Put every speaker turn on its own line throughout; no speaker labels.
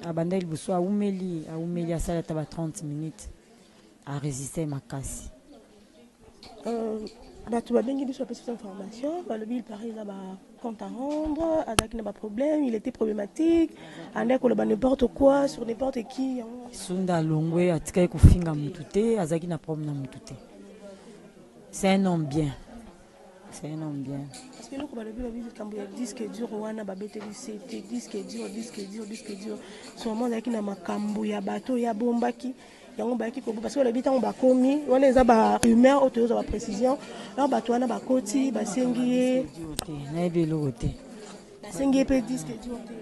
abanda liboso awumeli awumeli asali ata ba 30 minutes aresiste makasi euh,
bato babengi biso bapesi biso information balobi il paraît eza bacompte à rendre azalaki na baproblème il était problématique andaki koloba n'importe quoi sur n'importe qui yango sunda alongwe
atikaki kofinga motu te azalaki na problème na motu te c'est un homme bien C'est un homme bien. Parce que loko balobi babi
likambo ya disque dur wana babeteli sete disque dur disque dur disque dur sûrement azalaki na makambo ya bato oyo abombaki yango bayaki kobo parce que balobi ntango bakomi wana eza ba rumeur oyo toyozwa ba précision alors bato wana bakoti basengi ye nayebi
eloko te basengi ye
mpe disque dur te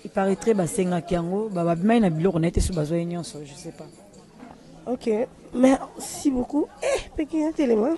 il
paraîtrait basengaki yango babimai na biloko na ye te so bazwa ye nyonso je sais pas ok
merci beaucoup eh pekina telema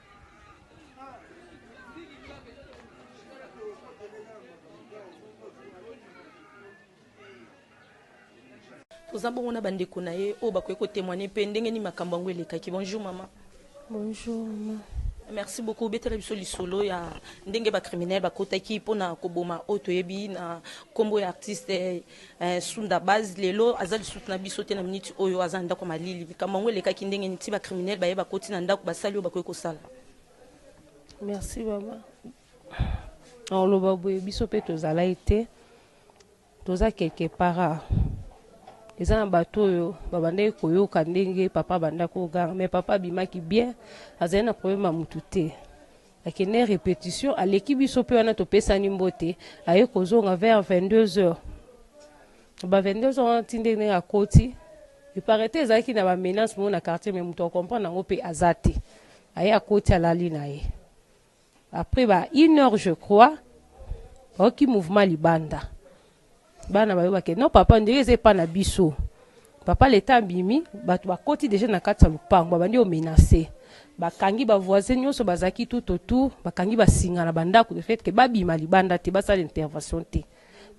toza bongo na bandeko na ye oyo bakoki kotemoigne mpe ndenge nini makambo yango elekaki bonjour mama bonjour
mama merci beaucoup
obetela biso lisolo ya ndenge bacriminel bakotaki mpona koboma oyo toyebi na nkombo ya artiste Eh, Sunda base lelo aza lisusu na biso te na minute oyo aza na ndako malili. Likambo yango elekaki ndenge nini ti ba criminel baye bakoti na ndako basali oyo bakoki kosala.
Merci mama. Oloba boye biso mpe tozalaki te toza quelque part ah. eza na bato oyo babandaki koyoka ndenge papa abandaki koganga mais papa abimaki bien azali na problème ya motu te Akende repetition aleki biso pe wana topesani mbote aye kozonga vers 22 heures ba 22 heures wana ti ndenge ndenge akoti eparete ezalaki na ba menace moko na quartier mais moto akomprendre yango pe aza te aye akoti alali na ye après ba une heure je crois bayoki mouvement libanda bana bayo bake non papa ondire eza epa na biso papa leta abimi bato bakoti deja na kati ya lopango babandi omenase bakangi bavoisin nyonso bazalaki tout autour bakangi basinga na bandako de fait ke babima libanda te basala intervention te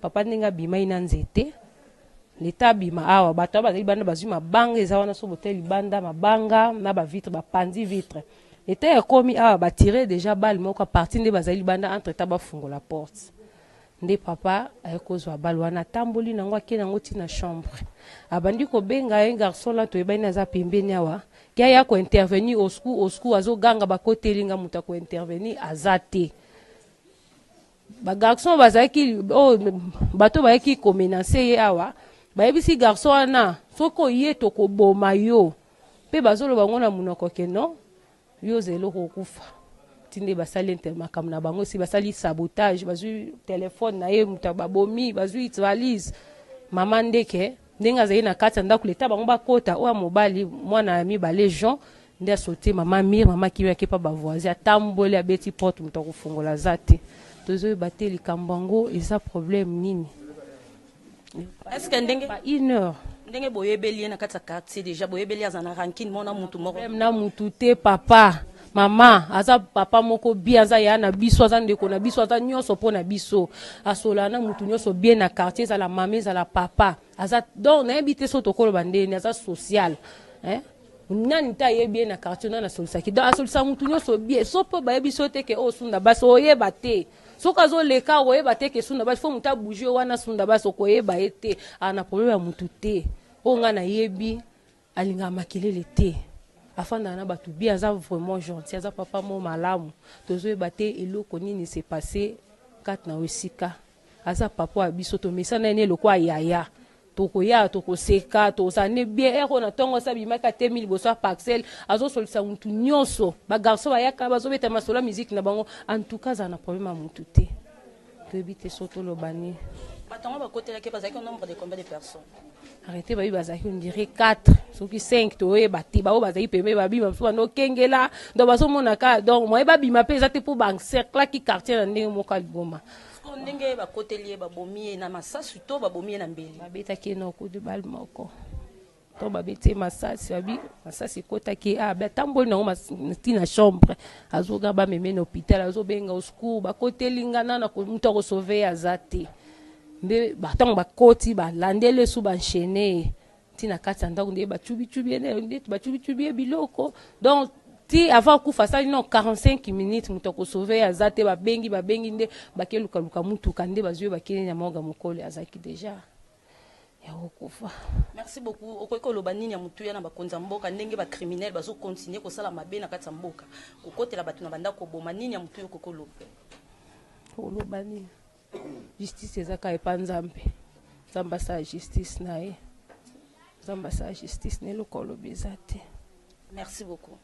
papa ndenge abimai na nzete leta abima awa bato awa bazali banda bazwi mabanga eza wana so botali libanda mabanga na bavitre bapanzi vitre leta ekomi awa batire deja bale moko aparti nde bazali libanda entre temps bafungola porte Nde papa aye kozwa balle wana atamboli nango ake nango ti na chambre abandi kobenga un garçon là toyebani aza pembeni awa ke aya ko intervenir au secours au secours azo ganga bakoteli nga moto ya ko intervenir aza te ba garçon bazalaki oh, bato bayaki komenase ye awa bayebisi garçon wana soki oye tokoboma yo mpe bazoloba ngo na monoko ke non Yo oza eloko okufa ti nde basali inter makambo na bango esi basali sabotage bazwi telephone na ye moto babomi bazwi valise mama ndeke ndenge azali na kati ya ndako leta bango bakota oyo mobali mwana ya mibale jean nde asote mama mire mama kimi akepa bavoisin atamboli abeti porte moto akofungola aza te tozoyeba te likambo yango eza problème nini
Est ce que ndenge ba une heure
ndenge boyebeli
ye na kati ya quartier deja boyebeli aza na rankine mona mutu moko problème na mutu te
papa mama aza papa moko bien aza yaya na biso aza ndeko na biso aza nyonso mpo na biso asolana na mutu nyonso bien na quartier ezala mama ezala papa aza donc nayebi te so tokoloba ndeni aza social eh? nani te ayebi ye na quartier nani asolisaki donc asolisa mutu nyonso bien so mpo bayebi so te ke oyo sunda basi oyeba te Soki azo leka okoyeba te ke sunda bas faut muta bouger wana sunda bas okoyeba ye te a na problème ya mutu te oyo nga na yebi alingaka makelele te afandaka na batu bien aza vraiment gentil aza papa mo malamu tozo yeba te eloko nini se passe kati na esika aza papa wa biso to mesana ye ne lokola yaya Tokoya tokoseka tokozala nde bien heure oyo na tongo asi abimaki atelemi liboso ya parcelle azo solisa mutu nioso ba garçon bayaka bazo beta masolo ya musique na bango en tout cas azala na problème ya mutu te toyebi te soki toloba nini.
Bato yango bakotelaki ye bazalaki au nombre de combien de personnes? arrete bayebi
bazalaki ondire 4 soki 5 toyeba te baoyo bazalaki pembe babima mosusu banda okengela donc bazomonaka donc moye babima mpe eza te mpo baencerclaki quartier na ndenge moko ya liboma Sikoyo ndenge
bakoteli ye, babomi ye na masasu to babomi ye na mbeli? Babetaki ye na coup de
balle moko to babeti ye masasi, babi masasi ekotaki ye, ah, atamboli nango ti na chambre, azoga bameme na hopital, azobenga au secours, bakoteli nga nana moto akosove ye aza te. Nde ntango bakoti balandeli esu banshene ye ti na kati ya ndako nde bacubicubi ye nde bacubicubi ye biloko donc ti avant akufa asali no 45 minutes moto akosauve ye aza te babengi babengi nde bake lukaluka motuka nde bazwi ye bakei na morga mokolo azalaki deja ya kokufa merci beaucoup
okoki koloba nini ya motuya na bakonzi ya mboka ndenge bacriminel bazokontinue kosala mabe na kati ya mboka kokotela bato na bandako koboma nini ya motuya okoki koloba
koloba nini Justice eza kaka epa Nzambe. Nzambe asala justice na ye. Nzambe asala justice na eloko olobi eza te. Merci beaucoup.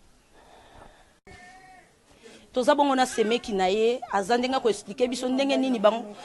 toza bongo na semeki na ye aza ndenge akoexplike biso ndenge nini bango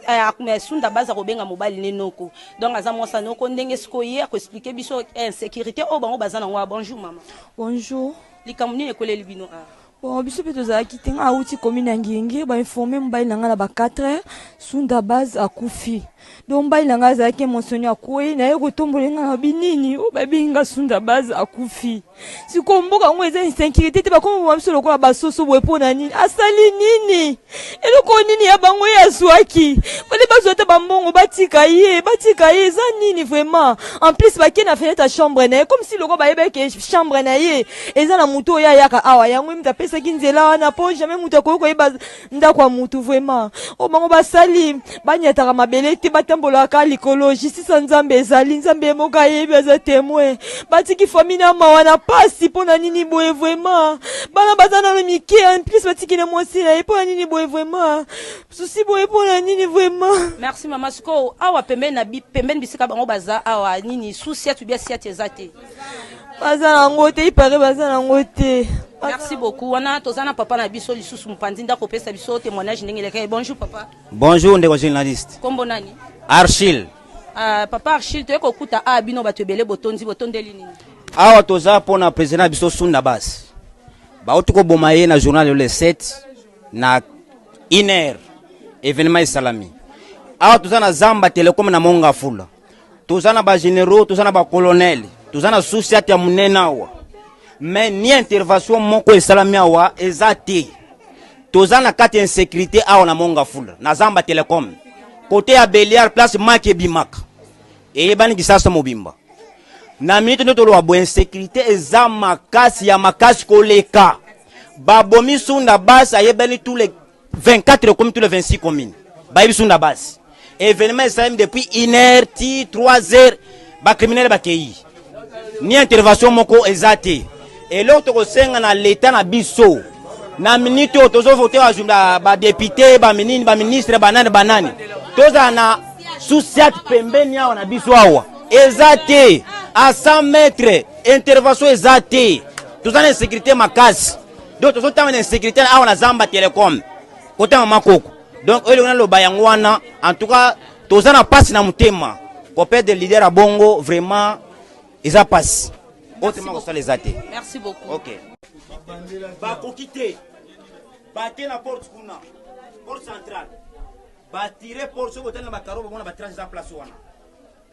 eh, sunda baza kobenga mobali ne noko donc aza mwasa noko ndenge sikoyo ye akoexplike biso eh, insécurité oyo bango baza nango bonjour mama bonjour
likambo nini ekweleli
bino a ah? Bon, biso mpe
tozalaki te ngai awuti commune ya ngenge bainforme mobali na ngai na ba 4 heures sunda base akufi donc mobali na ngai azalaki emotionne akwei naye kotombola ngai na binini oyo babengi ngai sunda base akufi sikoyo mboka yango eza insécurité te bakoma boma biso lokola basoso boye mpo na nini asali nini eloko nini ya bango ye azwaki fale bazwa ata bambongo batika ye batika ye eza nini vraiment en plus bake na fenêtre ya chambre na ye comme si loko bayebeke chambre na ye eza na motu oyo ayaka awa yango ye moto apesaki nzela wana mpo jamais moto akoki koyeba ndako ya motu vraiment oyo bango basali banyataka mabele te batambolaka likolo justice ya nzambe ezali nzambe ye moko ayebi aza temoin batiki fami na mawa na pasi mpo na nini boye vraimen bana baza nano mike en plus batiki na mwasi na ye mpo na nini boye vraimen susi boye mpo na nini vraimen merci mama sikoyo
awa pembeni na pembeni bisika bango baza awa nini susi atu bia siati eza te baza
nango te ipare baza nango te merci beaucoup
wana toza na papa na biso lisusu mopanzi ndako opesa biso témoignage ndenge elekaki bonjour papa Bonjour ndeko
journaliste. Kombo nani?
Archil.
Uh, papa
Archil toye kokuta a bino bato ebele botondi botondeli nini? Awa toza
mpo na president na biso Sunda Bas. Bauti koboma ye na journal le 7 na une heure evenement esalami. Awa toza na Zamba Telecom na Mongafula. toza na ba generaux toza na ba colonel toza na sociate ya monene awa me ni intervention moko esalami awa eza te toza na kati ya insécurité awa na mongafula na zamba telecom kote ya beliar place maki ebimaka eyebani kisasa mobimba na minute nde toloba bo insécurité eza makasi ya makasi koleka babomi sunda basi ayebani tous les 24 ekomi tout le 26 commune bayebi biso na base événement esalemi depuis une heure ti 3 heures bacriminele bakei ni intervention moko eza te eloko tokosenga na leta na biso na minute oyo tozovote badepute baminini baministre banani banani tozala na susiat pembeni awa na biso awa eza te a 100 mètre intervention eza te toza na insécurité makasi donc tozotanga na insecurité awa na zamba telecom kota mama koko donc oyo elongo naloba yango wana en tout cas toza na mpasi na motema kopede leader ya bongo vraiment eza mpasi oyo tema kosala eza te merci beaucoup ok bakoki te bake na porte kuna porte centrale batire porte soki otali na bakaro bamona batrage eza place wana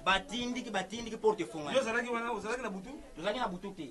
batindiki batindiki porte efungani ozalaki
na butu te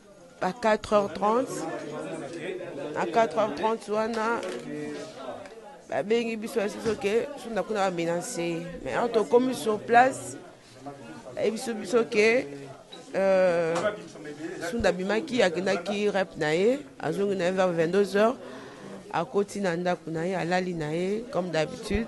à 4h30 à 4h30 wana babengi biso yasi soki sunda kuna bamina nse mais awa tokomi sur place ayebi biso biso ke euh, sunda abimaki akendaki rep na ye azongi na ye vers 22 heures akoti na ndako na ye alali na ye comme d'habitude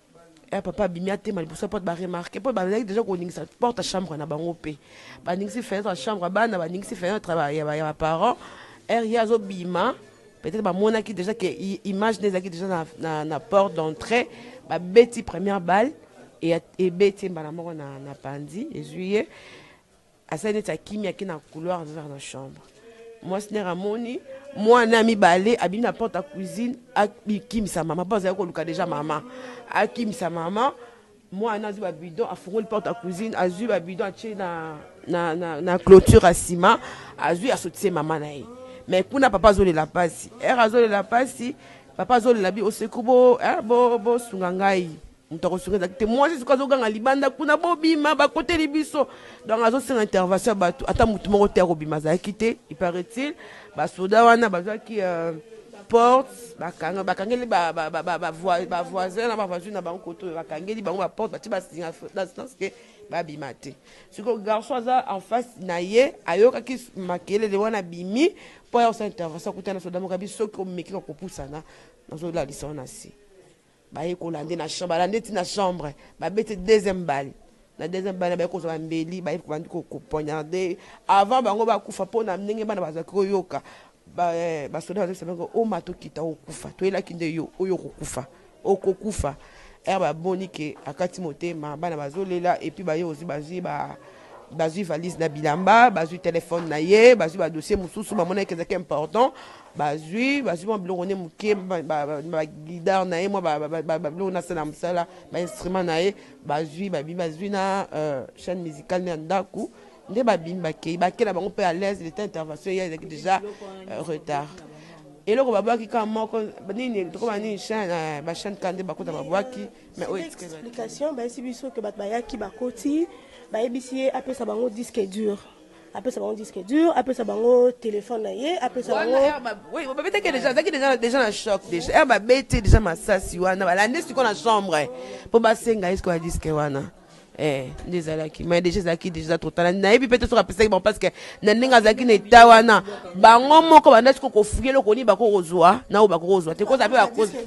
ya papa abimi atema liboso ya porte baremarke mpo bazalaki deja koningisa porte ya chambre na bango mpe baningisi fenetre ya chambre ya bana baningisi fenetre ya baparent ere ye azobima peut-être bamonaki deja ke image nde ezalaki deja na, na, na porte d'entrée babeti première balle ebeti ye mbala moko na, na panzi ezwi ye Asali neti akimi ake na couloir azo vers na chambre. Mwasi nere amoni mwana ya mibale abimi na porte ya cuisine akimisa mama mpo azali koluka deja mama akimisa mama mwana azwi babidon afungoli porte ya cuisine azwi babidon atie na, na, na, na clôture ya nsima azwi asotise mama na ye mais kuna papa azolela mpasi ere azolela mpasi papa azolela bi oseku bosunga bo, bo ngai Mutu akosunga ezalaki te mwasi sikoyo azoganga libanda kuna bobima bakoteli biso donc azosenga intervention ya batu ata mutu moko te akobima azalaki te il paraît-il basoda wana bazwaki euh, porte bakanga bakangeli bavoisin na bavoisine na bango koto oyo bakangeli bango baporte batie basinga na sens ke babima te sikoyo garçon aza en face na ye ayokaki makelele wana abimi mpo aya kosala intervention akutana soda moko abi soki omeki kakopusana nazolalisa wana se Baye ko lande na chambre, ba lande ti na chambre, ba bete deuxième balle. Na deuxième balle baye ko zwa ba mbeli, baye ko bandi ko ko poignarder avant bango ba kufa po na ndenge bana ba zwaki ko yoka. Ba ba soda ba zokisa bango oma to kita o kufa, to yelaki nde yo oyo oko kufa, oko kufa. Heure ba moni que akati motema, bana ba zo lela et puis baye ozwi ba zwi ba ba zwi valise na bilamba, ba zwi telephone na ye, ba zwi ba dossier mosusu ba monaki ezalaki important. bazwi bazwi mwa biloko nde moke bagidar na ye mwa babiloko nasala mosala bainstrument na ye bazwi babi bazwi na euh, chaîne musicale nde ya ndako nde babimi bakei bakela bango mpe à l'aise leta intervention ye ezalaki déjà euh, retard eloko babwaki ka moko nini tokoma nini chaine euh, bachaine ka nde bakota babwaki mais oyo explication
bayesi biso ke bato bayaki bakoti bayebisi ye apesa bango disque dur apesa bango disque dur apesa bango téléphone na ye apesa bango babetaki
deja azalaki deja deja na choc deja ere babeti deja masasi wana balande sikoyo na chambre mpo basenga ye sikoyo ya disque wana eh, nde ezalaki mai deja ezalaki deja totala nayebi mpe te soki apesaki bango parceke na ndenge azalaki na eta wana bango moko banda sikoyo kofuye eloko nini bakoki kozwa na oyo bakoki kozwa te kozala mpe bakozi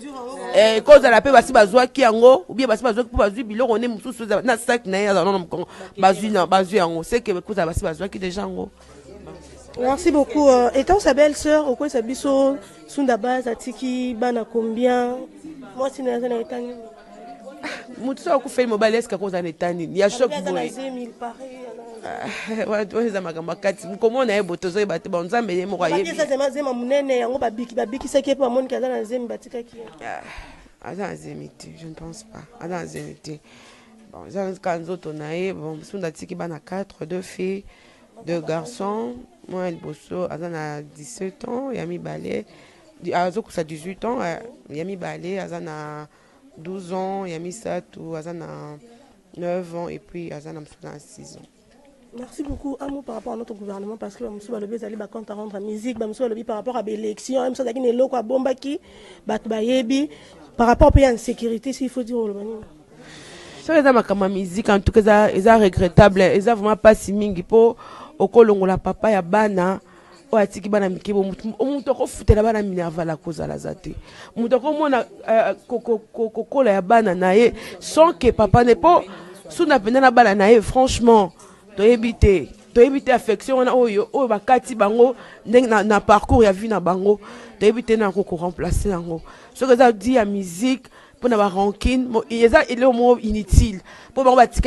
eh, kozala mpe basi bazwaki yango ubie basi bazwaki mpo bazwi biloko nde mosusu na saki na ye azala nano mokongo bazwi na bazwi yango seke kozala basi bazwaki deja yango merci
beaucoup euh, étant sa belle sœur okwesa biso sunda bas atiki bana combien mwasi na aza na eta nini moto
so akufeli mobali eske akozala na eta nini ya shok boye oyo eza makambo akati komona ye boto ozoyeba te banzambe ye moko ayebizema monene
yango babikisaki ye mpo bamoniki aza na zemi batikaki ye ah, aza
na zemi te je ne pense pas aza na zemi te Bon, eza kaka nzoto na ye. Bon, Sunda atiki bana 4, deux filles, deux garçons. Mwana liboso aza na 17 ans, ya mibale azokusa 18 ans, eh, ya mibale aza na 12 ans, ya misato aza na 9 ans et puis aza na mosusu na 6 ans. Merci beaucoup.
Un mot par rapport à notre gouvernement, parce que Moussou Balobi ezali ba compte à rendre à musique, Moussou Balobi par rapport à l'élection, Moussou Balobi ne loko à bombaki, bat bayebi, par rapport à l'insécurité, s'il faut dire au Lomani. Ça les
a makama musique, en tout cas, ils ont regrettable, ils ont vraiment pas si mingi po, okolongo la papa ya bana, oyo atiki bana mike bo moto akofutela bana minerval akozala aza te moto akomona euh, kokola ya bana na ye sans que papa ne mpo suna mpenza na bana na ye franchement toyebi te toyebi te affection wana oyo oyo bakati bango ndenge na, na parcours ya vie na bango toyebi te nako koremplace yango soki eza di ya musique mpo na barankine eza eleo moko inutile mpo bango batika